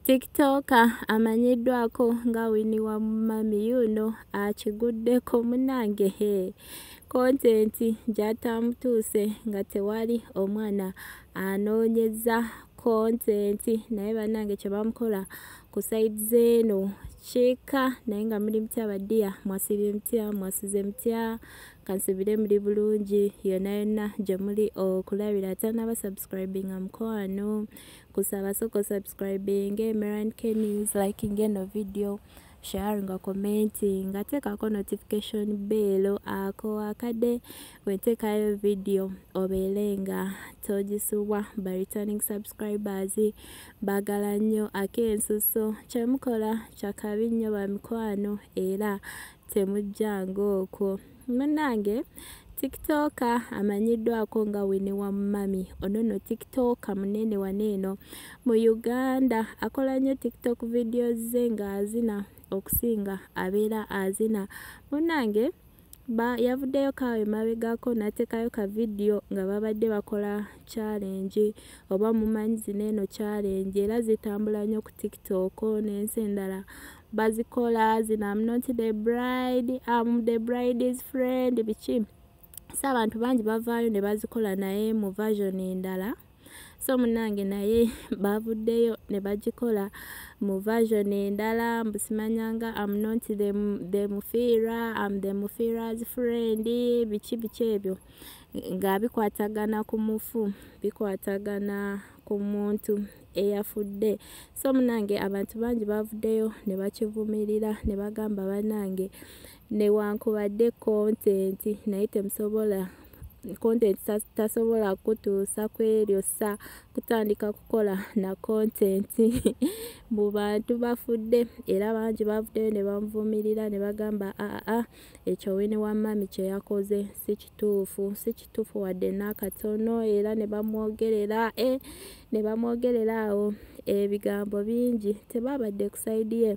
tiktoka amanyiddwako nga wini wa mumami yuno akiguddeko munange he kontenti gyatamutuuse nga tewali omwana anoonyeza kontenti naye banange kyebamukola ku saidi zeeno kika naye nga muli mutya badiya mwasibye mutya mwasuze mutya kansubire muli bulungi yona yonna gye muli okulabira atanaba subscribinga mukwano kusaba soko subscribing emeran kenis liking eno video share nga commenting nga tekako notification bell ako akade wetekayo video obele nga tojisubwa ba returning subscribers bagala nnyo akensuso kyemukola kyakabi nnyo bamikwano era temujjanga okwo munange tiktoka amanyiddwako nga wini wa mumami ono no tiktoka munene wano eno mu uganda akola nnyo tiktok vidiyo ze ng'azina okusinga abeera azina munange yavuddeyo kaawo emabegako n'ateekayo ka vidiyo nga babadde bakola kyalengi oba mumanyi zino eno kyalengi era zitambula nnyo ku tiktok n'ensi endala bazikola zino am not the bride am the bride's friend biki so abantu bangi bavaayo ne bazikola naye mu version endala so munange naye bavuddeyo ne bagikola mu version endala mbusimanyanga am not the, the mufiira am the mufiira's friend biki biki ebyo nga bikwatagana ku mufu bikwatagana ku muntu eyafudde so munange abantu bangi bavuddeyo ne bakivumirira ne bagamba banange newankubadde kontenti naye temusobola content tasobola kutuusa ku eryo sa kutandika kukola na content mu bantu bafudde era bangi bavuddeyo ne bamuvumirira ne bagamba aa ah, ah, ekyo wini wa mami kye yakoze si kituufu si kituufu wadde n'akatono era ne bamwogerera e ne bamwogerera awo ebigambo bingi tebaabadde ku sayidi ye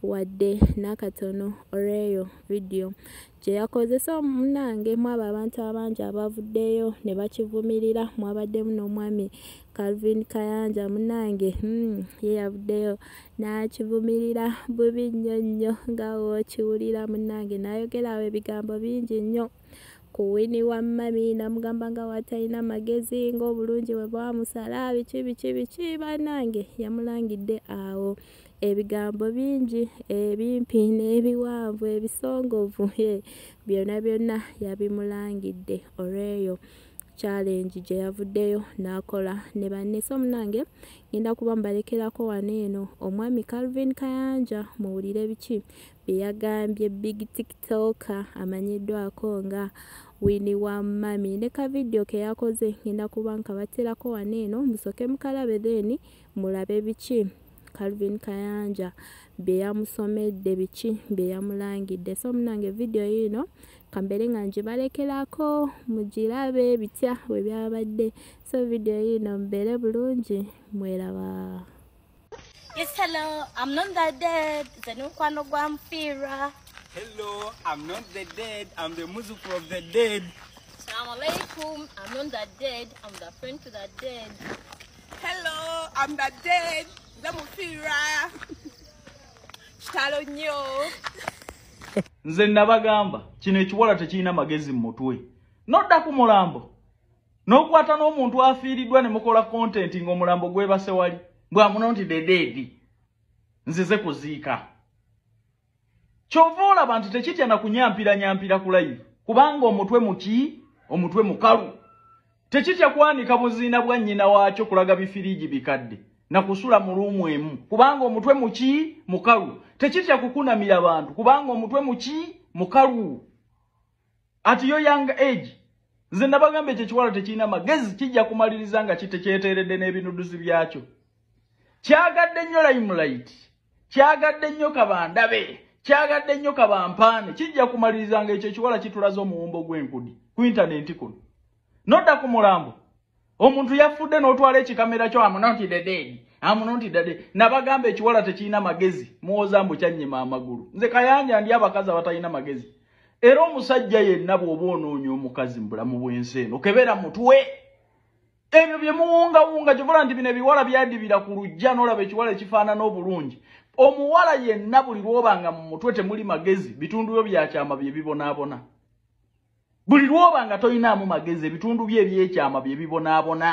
wadde n'akatono olw'eyo vidiyo gye yakozesa omunange mwabo abantu abangi abavuddeyo ne bakivumirira mwabaddemu n'omwami Calvin Kayanja munange hmm, ye yavuddeyo n'akivumirira bubi nnyo nnyo nga w'okiwulira munange n'ayogerawo ebigambo bingi nnyo ku wini wa mami namugamba nga watalina magezi ng'obulungi bwe bwamusala biki biki biki banange yamulangidde awo ebigambo bingi ebimpi n'ebiwanvu ebisongovu byonna byonna yabimulangidde olweyo challenge gye yavuddeyo n'akola ne banne so munange ngenda kuba mbalekerako wano eno omwami calvin kayanja muwulire biki bye yagambye big tiktoka amanyiddwako nga wini wa mami ne ka vidiyo ke yakoze ngenda kuba nkabaterako wano eno musooke mukalabe then mulabe biki calvin kayanja bye yamusomedde biki bye yamulangidde so munange vidiyo yiino kambeere nga ngibalekerako mugirabe bitya bwe byabadde so vidiyo yiino mubeere bulungi mweraba Yes, hello, I'm not the dead. It's a new one of Guamfira. Hello, I'm not the dead. I'm the music of the dead. Assalamu alaikum. I'm not the dead. I'm the friend to the dead. hello am the dead nze mufiira kitalo nnyo nze nabagamba kino ekiwala tekirina magezi mu mutwe nodda ku mulambo n'okwata n'omuntu afiiriddwa ne mukola kontenti ng'omulambo gwebase wali mbwamuno nti dedeedi nzize kuziika kyova olaba nti tekitya na kunyampira nyampira ku live kubanga omutwe muki omutwe mukalu tekitya kwanika buziina bwa nnyina waakyo kulaga bifiriigi bikadde na kusula mu luumu emu kubanga omutwe muki mukalu tekitya kukunamira bantu kubanga omutwe muki mukalu at your young age nze nabagamba ekyo ekiwala tekirina magezi kijja kumaliriza nga kitekyeteeredde n'ebinuduzi byakyo kyagadde nnyo limelight kyagadde nnyo kabandabe kyagadde nnyo kabampaane kijja kumaliriza nga ekyo ekiwala kitulaza omuwumbo gw'enkudi ku intanenti kuno nodda ku mulambo omuntu yafudde n'otwala ekikamera kyo amunontidededi amunontidede nabagamba ekiwala tekirina magezi muwoza mbu kyannyima amagulu nze kayanja ndi abakazi abatalina magezi era omusajja yenna bw'oba onoonya omukazi mu bulamu bw'ensi eno kebera mutwe ebyo bye muwungawunga kivula nti bino ebiwala byadibira ku lujja n'olaba ekiwala ekifaanana obulungi omuwala yenna buli lw'oba nga mu mutwe temuli magezi bitundu byo byakyama bye bibonaabona buli lwoba nga toyinaamu magezi ebitundu bye ebyekyama bye bibonaabona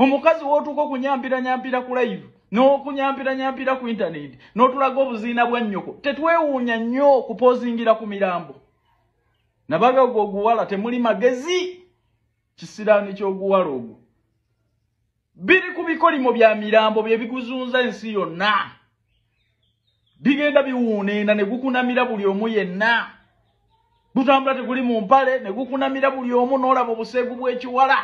omukazi wootuuka okunyampiranyaampira ku live n'okunyampiranyaampira ku intaneti n'otulaga obuziina bwa nnyoko tetwewuunya nnyo okupozingira ku mirambo nabaga ogwo oguwala temuli magezi kisiraani ky'oguwala ogwo biri ku bikolimo bya mirambo bye biguzunza ensi yonna bigenda biwuuneena ne gukunamira buli omu yenna gutambula teguli mu mpale ne gukunamira buli omu n'olaba obuseegu bw'ekiwala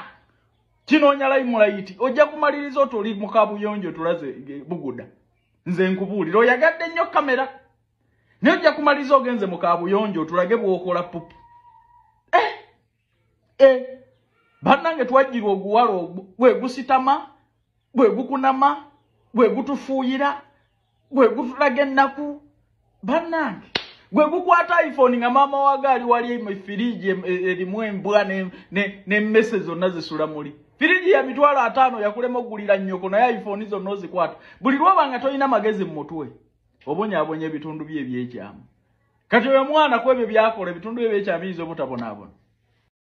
kinoonya layimulayiti ojja kumaliriza oti oli mu kabuyonjo tulaze buguda nze nkubuulira oyagadde nnyo kamera naye ojja kumaliriza ogenze mu kabuyonjo otulage bw'okola pupu Eh, bannange twajjirwa oguwala ogwo gwe gusitama gwe gukunama gwe gutufuuyira gwe gutulaga ennaku bannange gwe gukwata iphone nga maama waga ali wali firiji erimu embwa nemmese zonna zisula muli firiji ya mitwalo ataano yakulema okugulira nnyoko naye iphone zonna ozikwata buli lwoba nga tolina magezi mu mutwe obonyabonya ebitundu bye ebyekyamu kati oyo mwana kwebyo byakola ebitundu bye byekyabiyinza obutabonaabona